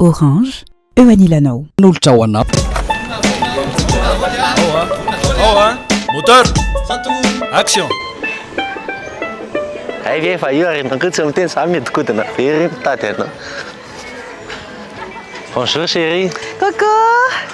Orange, eo anilanao. Nolotra ho anao. Ao a, moteur, action. Hay ve efa io ary nanko tsy miteny za mihodinkodina very mitady anao. Bonjour chérie. Coucou.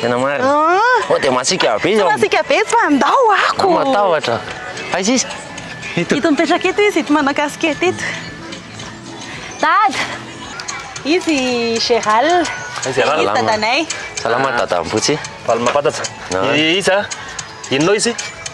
Tena marina. Ah. Oh, dia masika be izy. Masika be fa ndao ako. Matahotra. Aiza izy? Ito. Ito mipetraka ito izy, ito manao casquette ito. Dad. Izy Gérald. Gérald dadanay. Salama dada Ampotsy. Valima fatatsa. Iza? Inona izy?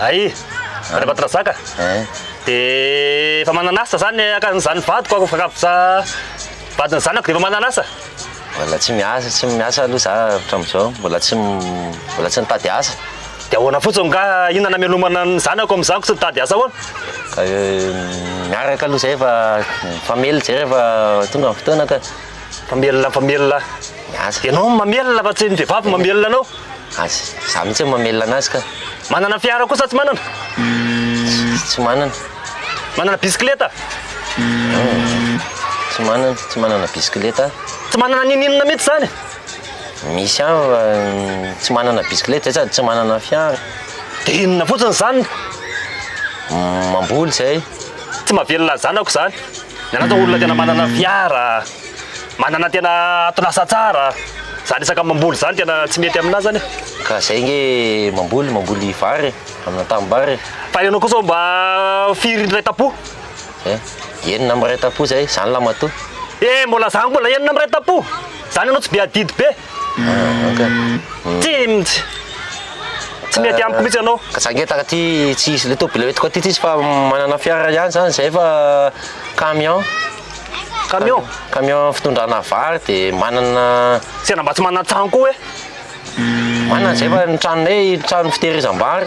Ay, Andriambatondrazaka, dia efa manan'asa zany aka zany vadiko ako fankaboza vadin'ny zanako dia efa manan'asa. Mbola tsy miasa, tsy miasa aloha za hatramin'izao, mbola tsy mbola tsy nitady asa. Dia ahoana fotsiny ngaha inona namelomana ny zanako amin'izany ko tsy nitady asa ahoana? Ka miaraka aloha zay fa fa mely jereo fa tonga ny fotoana ka. Mpamelona mpamelona Azy. Ianao no mamelona fa tsy ny vehivavy no mamelona anao. Azy. Za mihitsy no mamelona anazy ka. Manana fiara koa sa tsy manana? Tsy manana. Manana bisikileta? Tsy manana, tsy manana bisikileta. Tsy manana ninoninona mihitsy zany? Misy ihany fa tsy manana bisikileta zay sady tsy manana fiara. Dia inona fotsiny zany? Mamboly zay. Tsy mahavelona ny zanako zany. Ianao zao olona tena manana fiara, manana tena ato lasa tsara, zany resaka mamboly zany tena tsy mety aminao zany e. Ka zay nge mamboly, mamboly vary e, amina tanimbary e. Fa ianao kosa mba firy ray tapo? Eh, enina amby ray tapo zay, zany lahy matoa. Eh, mbola zany mbola enina amby ray tapo? Zany ianao tsy be adidy be? Timjy! Tsy mety amiko mihitsy ianao. Ka tsangetaka ty tsy hisy le tôbila eto ty tsisy fa manana fiara ihany zany zay fa camion. Camion? Camion fitondrana vary de manana Tena mba tsy manana trano koa hoe? Manana zay fa ny tranonay trano fitehirizam-bary.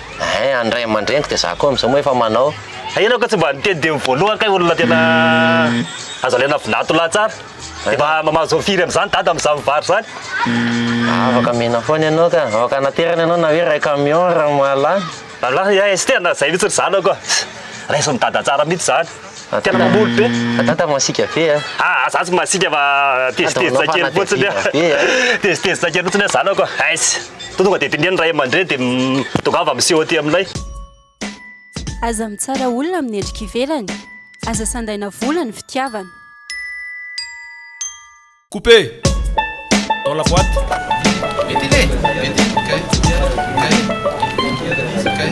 Eeh any ray aman-dreniko dia za koa amin'izao moa efa manao. Hay ianao kay tsy mba niteny teny voalohany kay olona tena azo alaina vilato lahy tsara. Dia mba mahazo firy amin'izany dada amin'izany mivary izany. Afaka mena foana ianao ka. Afaka hanaterana ianao na hoe iray camion raha mahalany. Angaha iay sy tena izay mihitsy ry zanako a. Raisin'i dada tsara mihitsy izany. Tena mamboly be. Fa tata masika be a. Ah, za tsy masika fa tezitezitra kely fotsiny a. Tezitezitra kely fotsiny zanako a. Ais. To tonga dia dinihan'ny ray aman-dreny dia tongava miseho aty aminay. Aza mitsara olona amin'ny endrika ivelany. Aza sandaina vola ny fitiavana. Couper dans la boite. Ventile, ventile, kay, kay, ventile, kay.